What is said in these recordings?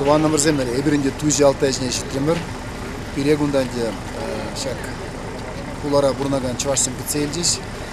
тӑванӑмӑрсем эпир ӗнтӗ Туҫи Алтай ҫине ҫитрӗмӗр. Пире кунта ӗнтӗ ҫак хулара пурӑнакан чӑвашсем кӗтсе илчӗҫ.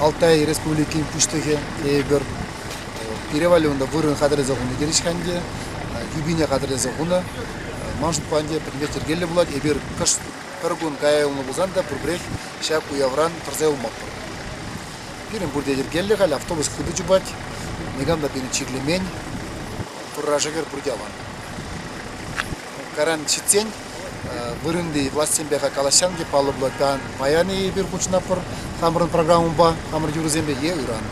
Алтай Республикин Пуҫлӑхӗ эпир перевале унта вырӑн хатӗрлесе хунӑ терӗҫ-ха ӗнтӗ, тӳпине хатӗрлесе хунӑ. Ман шутпа ӗнтӗ пӗтӗмпех йӗркеллӗ пулать. Эпир кӑшт пӗр кун кая юлнӑ пулсан та пурпӗрех ҫак уявран тӑрса юлмастпӑр. Пирӗн пурте йӗркеллӗ халь, автобус хытӑ чупать, никам та пирӗн чирлемен. Пӑрра шӗкӗр пурте аван. Каран ҫитсен вырӑнти влаҫсемпе-ха калаҫсан те палӑблӑ. Паян-и эпир хутшӑнатпӑр хамӑрӑн программӑпа, хамӑр юрӑсемпе е ыран.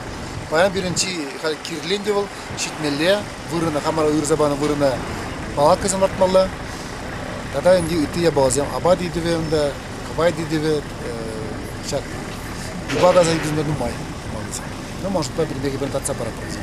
Паян пирӗн чи халь кирлен те вӑл ҫитмелле вырӑна, хамӑра уйӑрса панӑ вырӑна палаткӑсем лартмалла. Тата ӗнтӗ ытти япаласем апат ыйтӑвӗ унта, кӑвайт ыйтӑвӗ, ҫак юпа касакансем те нумай малти. Ну, может, пӗр-пӗринпе татса паратпӑр вӗсем.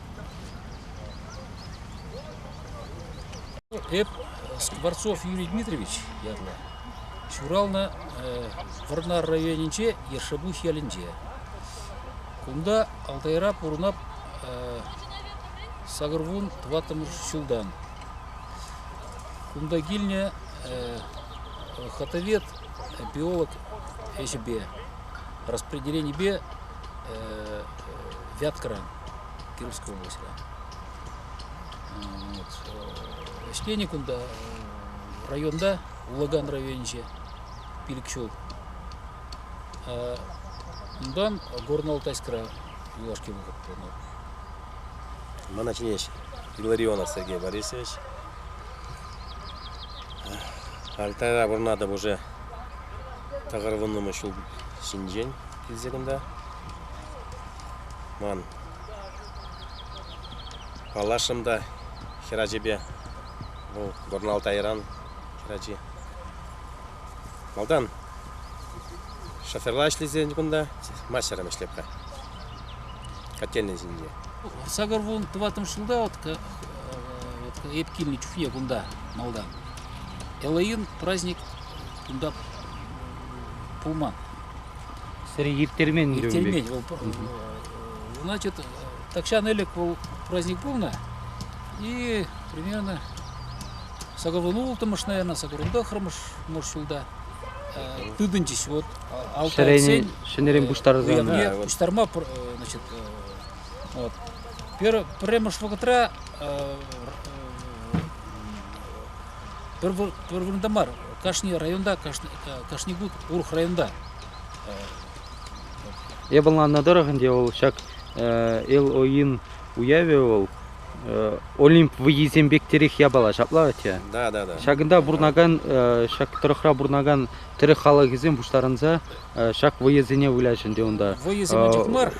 Эп Скворцов Юрий Дмитриевич ятлӑ. Ҫуралнӑ Вӑрнар районӗнче, Ершебух ялӗнче. Кунта Алтайра пурӑнап сакӑрвун тӑваттӑмӗш ҫултан. Кунта килнӗ хатовед, биолог ӗҫӗпе, распределенипе вяткӑран. Кировская область. Вот. Ӗҫленӗ кунта районта, Улаган районӗнче пилӗк ҫул. Унтан Горно-Алтайскра юлашки вӑхӑт пулнӑ. Мана чӗнеҫ Илларионов Сергей Борисович. Алтайра вырнатӑп уже тӑхӑр вуннӑмӗш ҫул ҫинчен килсе кунта. Ман паллашрӑм та хӗрачипе. Вӑл Горналтайран хӗрачи. Малтан шоферла ӗҫлесен кунта, мастером ӗҫлеп-ха. Котельнӑй ҫинче. Сакӑр кун, тӑваттӑмӗш ҫулта вот, вот эп килнӗ чухне кунта, малтан. Элоин праздник кунта пулман. Сире ирттермен? Ирттермен. Вӑл, значит, тахҫан ӗлӗк вӑл праздник пулнӑ. И примерно сакӑрвун улттӑмӗш, наверное, сакӑрвун тӑхрӑмӗш мӑш ҫулта тытӑнчӗҫ вот алтайсен. Ҫӗнӗрен пуҫтарсан. Пуҫтарма, значит, вот пӗрремӗш вӑхӑтра пӗр вырӑнта мар, кашни районта, кашни, кашни кун урӑх районта. Я ӑнланнӑ тӑрӑх ӗнтӗ вӑл ҫак Эл-Оин уявӗ вӑл Олимп вӑййисем пектерех япала ҫапла атя. Да, да, да. Ҫакӑнта пурӑнакан ҫак тӑрӑхра пурӑнакан тӗрӗк халӑхӗсем пуҫтарӑнса ҫак вӑйӑсене выляҫ ӗнтӗ унта. Вӑйӑсем чух мар,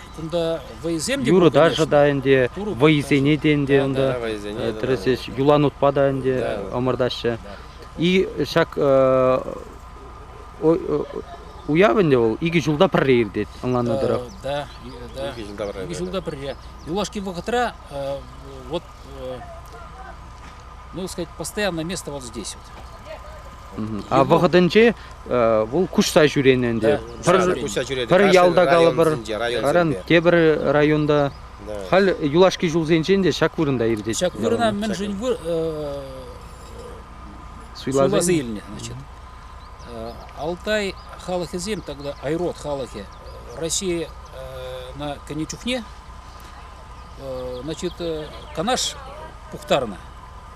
юрӑ-ташӑ та ӗнтӗ, вӑйӑсене те ӗнтӗ унта тӗрӗсеҫ, юланутпа та ӗнтӗ ӑмӑртаҫҫӗ. И ҫак уяв ӗнтӗ вӑл икӗ ҫулта пӗрре иртет, ӑнланнӑ тӑрӑх. Икӗ ҫулта пӗрре. Икӗ ҫулта пӗрре. Юлашки вӑхӑтра, вот, ну, сказать, постоянное место вот здесь. А вӑхӑтӗнче вӑл куҫса ҫӳренӗ ӗнтӗ. Пӗр, пӗр ялта калӑпӑр, район тепӗр районта. Халь юлашки ҫулсенчен те ҫак вырӑнта иртет. Ҫак вырӑна мӗншӗн суйласа илнӗ, значит. Алтай халӑхӗсем тогда айрод халӑхӗ Россия кӗнӗ чухне значит канаш пухтарнӑ.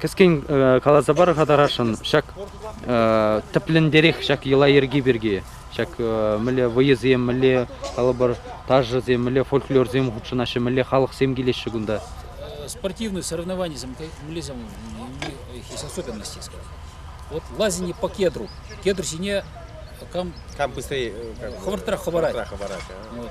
Кӗскен каласа пар-ха тарашӑн ҫак тӗплӗнтерех ҫак йӑла-йӗрке пирки. Ҫак мӗнле вӑйӑсем, мӗнле, калӑпӑр, ташӑсем, мӗнле фольклорсем хутшӑнаҫҫӗ, мӗнле халӑхсем килеҫҫӗ кунта? Спортивные соревнования, мӗнлесем есть особенности, скажем. Вот лазание по кедру. Кедр ҫине кам... Кам быстрее... Хӑвӑртрах хӑварать. Хӑварать. Вот.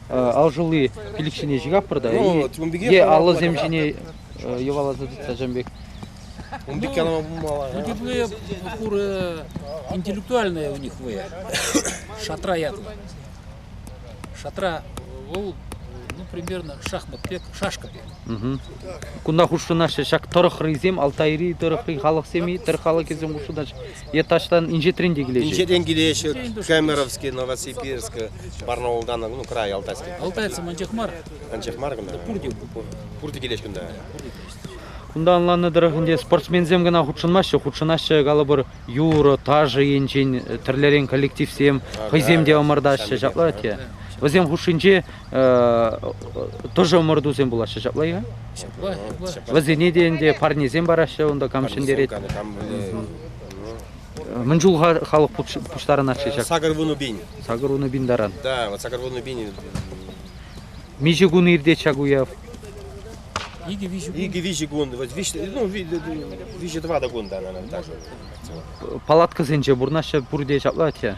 алшӑлли пилӗк ҫине ҫыхаппӑр та е аллӑсем ҫине йӑваласа тытса ҫын пек. Ун пек янама пулмалла. Ну, теплые куры интеллектуальные у них вы. Шатра ятло. Шатра, вӑл, ну, примерно шахмат пек, шашка пек. Кунта хушшынаҫҫӗ ҫак тӑрӑх рыйсем, Алтайри тӑрӑхри халӑхсем-и, тӑр халӑхӗсем хушшынаҫҫӗ. Е таҫтан инҫетрен те килеҫҫӗ? Инҫетрен килеҫҫӗ. Кемеровский, Новосибирск, Барнаултан, ну, край Алтайски. Алтайцы анчах мар. Анчах мар кӑна. Пурте пур. Пурте килеҫ кунта. Кунта ӑнланнӑ тӑрӑх ӗнтӗ спортсменсем кӑна хутшӑнмаҫҫӗ, хутшӑнаҫҫӗ, калӑпӑр, юрӑ, ташӑ енчен тӗрлӗрен коллективсем, хӑйсем те ӑмӑртаҫҫӗ, ҫапла те. Вӗсем хушшинче Тоже ӑмӑртусем пулаҫҫӗ ҫапла-и? Ҫапла. Вӗсене те ӗнтӗ парнесем параҫҫӗ унта кам ҫӗнтерет. Мӗн чул халӑх пуҫтарӑнатчӗ ҫак? Сакӑр вунӑ пин. Сакӑр вунӑ пин таран. Да, вот сакӑр вунӑ пин. Миҫе кун иртет ҫак уяв? Икӗ-виҫӗ кун, вот ну, виҫӗ-тӑватӑ кун да, наверное, даже. Палаткӑсенче пурӑнаҫҫӗ пурте ҫапла атте?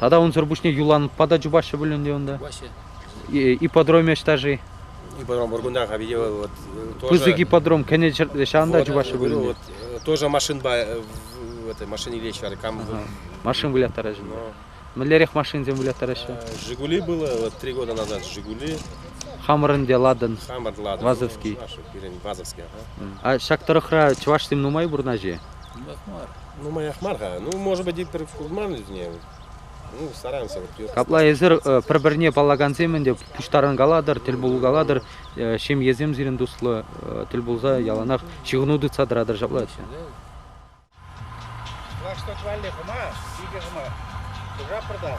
Тата унсӑр пуҫне юланпа та чупаҫҫӗ пуль ӗнтӗ унта. Ипподромӗ ӑҫта-ши? Ипподром Бургундаха виде вот тоже, Пысӑк ипподром кӗнӗ ҫӗрте ҫавӑнта вот, чупаҫҫӗ пуль ӗнтӗ. Вот, тоже машинпа в этой машине илеҫҫӗ кам. Ага. Машин выляттараҫҫӗ. Но. Мӗнлерех машинсем выляттараҫҫӗ? Жигули было, вот три года назад Жигули. Хамӑр ӗнтӗ Ладен. Хамӑр Ладен. Вазовский. Пирӗн Вазовский. А ҫак тӑрӑхра чӑвашсем нумай пурӑнаҫҫӗ? Нумаях мар. Нумаях мар-ха. Ну, может быть, и курман вӗсене. Ну, стараемся. Апла эсир пӗр-пӗрне паллакансем ӗнтӗ пуҫтарӑнкалатӑр, тӗл пулкалатӑр, ҫемьесем сирӗн туслӑ тӗл пулса яланах ҫыхӑну тытса тӑратӑр ҫапла ача. Флагшток валли хӑма, икӗ хӑма. Хушапӑр та.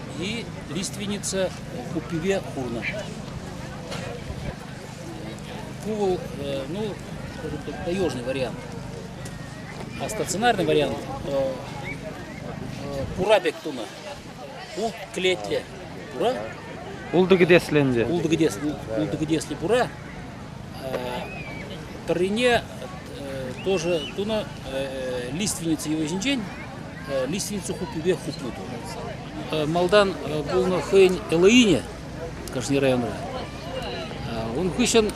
и лиственница хуппипе курнӑ. Пу вӑл, ну, скажем так, таежный вариант. А стационарный вариант пура пек тунӑ. Ул клетле. Пура? Ултӑ кӗтеслӗ ӗнтӗ. Ултӑ кӗтеслӗ, ултӑ кӗтеслӗ пура Пӗррине тоже тунӑ лиственница йӑвисенчен лиственница хуппипе хупнӑ тунӑ. Малтан пулнӑ хӑйӗн Элоине кашни районра. Ун хыҫҫӑн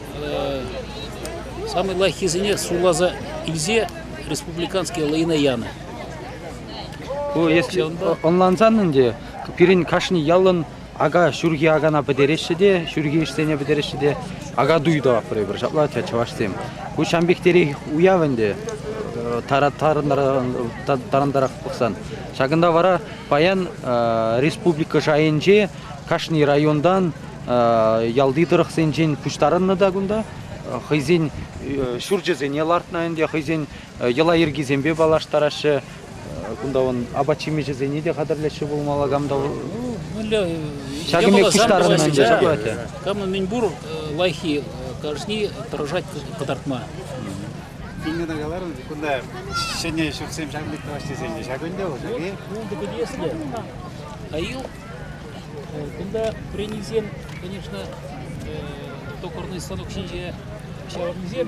самый лайӑххисене суйласа илсе республиканский Элоина янӑ. Ку эс ӑнлансан ӗнтӗ, пирӗн кашни ялӑн Ака ҫурхи акана пӗтереҫҫӗ те, ҫурхи ӗҫсене пӗтереҫҫӗ те акатуй тӑватпӑр эпир ҫапла чӑвашсем. Ку ҫампихтерех уяв ӗнтӗ тарантарах пӑхсан. Ҫакӑнта вара паян республика шайӗнче кашни районтан ялти тӑрӑхсенчен пуҫтарӑннӑ та кунта хӑйсен ҫурчӗсене лартнӑ ӗнтӗ, хӑйсен йӑла-йӗркисемпе паллаштараҫҫӗ, Кунта вон апат-ҫимӗҫӗсене те хатӗрлеҫҫӗ пулмалла кам та ҫакӑн пек пуҫтарӑннӑ ӗнтӗ ҫапла Кам мӗн пур лайӑххи кашни тӑрӑшать кӑтартма. Пингина каларӑн, кунта ҫӗнӗ ҫуртсем ҫакӑн пек тӑваҫҫисенче ҫак ӗнтӗ вӑл ҫак-и? Пултӑ пӗлеслӗ. Айыл кунта пренисем, конечно, токарный станок ҫинче ҫаврӑнсем.